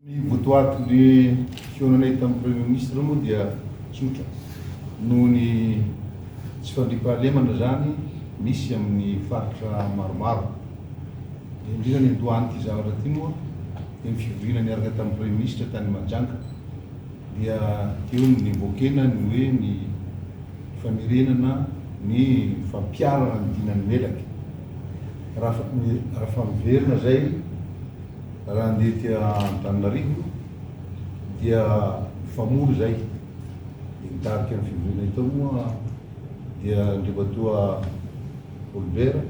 Ny votoatin'ny fihaonanay tamin'ny Premier Ministre moa dia tsotra, noho ny tsy fandriampahalemana izany misy amin'ny faritra maromaro. Indrindra niandohan'ity zavatra ity moa dia ny fivoriana niaraka tamin'ny Premier Ministre tany Mahajanga. dia eo no nivoakena ny hoe ny famerenana ny fampiharana ny dinan'ny melaky. Rafa miverina izay raha handeha aty Antananarivo dia fa mora izay dia nitarika ny fivoriana eto moa dia Andriamatoa Olbert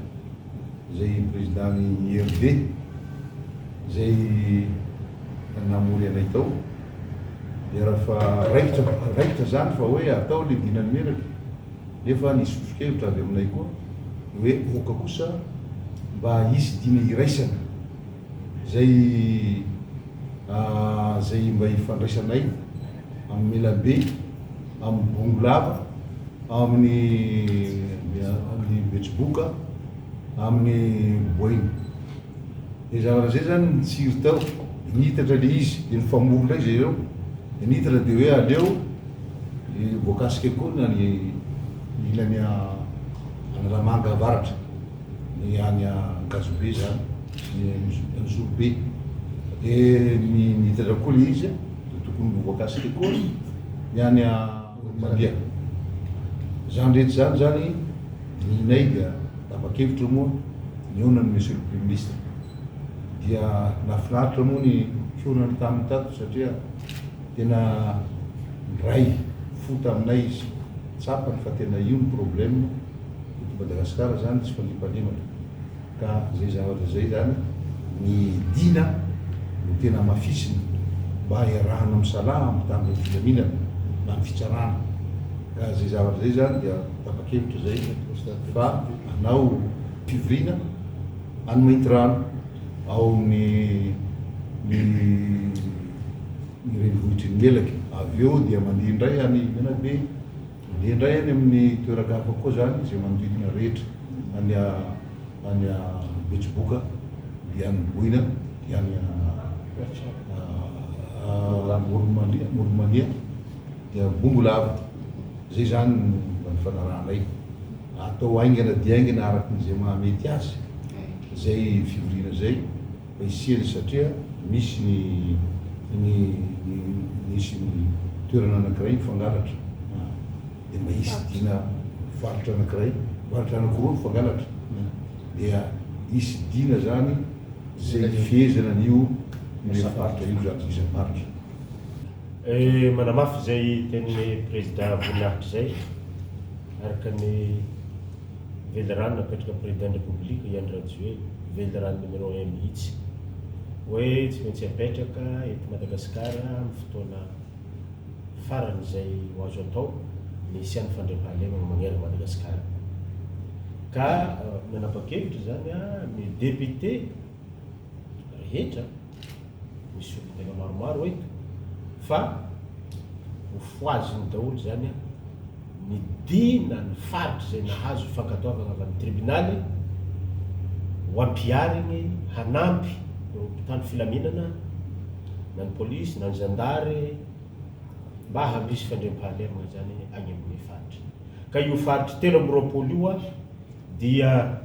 izay Président-n'ny IRD izay namory anay tao. Miera fa raikitra raikitra izany fa hoe atao ilay dinan'ny menatra nefa ny sosokevitra avy aminay koa dia hoe aoka kosa mba hisy dina iraisana izay izay mba hifandraisanay amin'ny Melabe, amin'ny Bongolava, amin'ny Betsiboka. amin'ny boainy. Dia zavatra izay izany no nitsiry tao. Dia niitatra ilay izy, dia nifamory indray izy ireo. Dia niitatra dia hoe aleo voakasika koa ny any ilany Analamanga avaratra, ny any Ankazobe izany, ny Zorobe. Dia niitatra koa ilay izy dia tokony ho voakasika koa ny any. Olomandeha. Izany rehetra izany izany nihinay dia tapa-kevitra moa nihaona ny Monsieur le Premier Ministre. Dia nahafinaritra moa ny fihaonany taminy tato satria tena niray fo taminay izy. Tsapany fa tena io ny problème eto Madagascar izany tsy fandriampahalemana. Ka izay zavatra izay izany ny dina no tena hamafisina mba hiarahana misalaha ampitan'ny filaminana na ny fitsarana. Ka izay zavatra izay izany dia tapa-kevitra izay fa hanao fivoriana any Maintirano ao amin'ny ny ny renivohitry ny Melaky. Avy eo dia mandeha indray any Menabe. Dia indray any amin'ny toeran-kafa koa izany izay manodidina rehetra, any any Betsiboka, dia any Boina, dia any Amoronmania, Amoronmania, dia Bongolava. Izay izany no mba nifanarahanay. Atao haingana dia haingana araka ny izay mahamety azy izay fivoriana izay. Hisiany satria misy ny ny ny misy ny toerana anankiray mifangalatra dia mba hisy dina faritra anankiray faritra anankiroa mifangalatra dia hisy dina zany zay hifehezana an'io asa faritra io zany isa faritra. Manamafy izay tenin'ny Prezida voninahitra izay araka ny. Velirano napetraka président ny République i Andry Rajoely, velirano numéro un mihitsy, hoe tsy maintsy apetraka eto Madagascar amin'ny fotoana farany izay ho azo atao ny hisian'ny fandriampahalemana manerana Madagascar. Ka nanapa-kevitra izany ny députés rehetra, misy olon-tena maromaro eto fa hofohaziny daholo izany ny dia na ny faritra izay nahazo fankatoavana avy amin'ny tribonaly ho ampihariny hanampy ireo mpitandro filaminana na ny polisy na ny zandary mba handrisy fandriampahalemana izany any amin'ny faritra. Ka io faritra telo amby roapolo io dia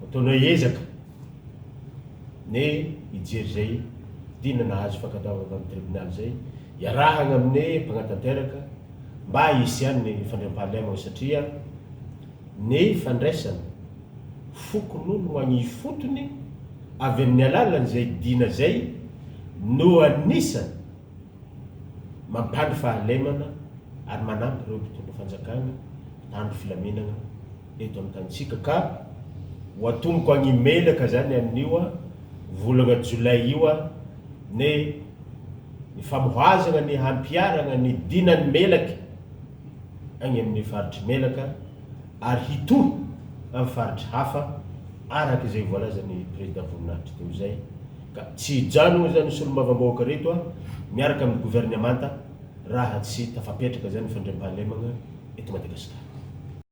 ataonay ezaka. Ne hijery izay dina nahazo fankatoavana tamin'ny tribonaly izay iarahagna amine mpagnatanteraka mba hisian ny fandriampahalemagna satria ne fandraisan fokonolon agny ifotony avy amin'ny alalan izay dina izay no anisan mampandry fahalemana ary manampy ireo mpitondra fanjakagna mpitandro filaminagna eto amin'ny tanintsika ka ho atomoko agny imelaka zany amin'io volagna jolay io a ne ny famohazagna ny hampiharagna ny dinan'ny melaky agny amin'ny faritry melaka ary hitohy amin'ny faritry hafa araka izay voalazan'ny Président Voninahitry teo zay ka tsy hijanogna zany ny solombavambahoaka reto a miaraka amin'ny governemanta raha tsy tafapetraka zany ny fandriampahalemagna eto Madagasikara.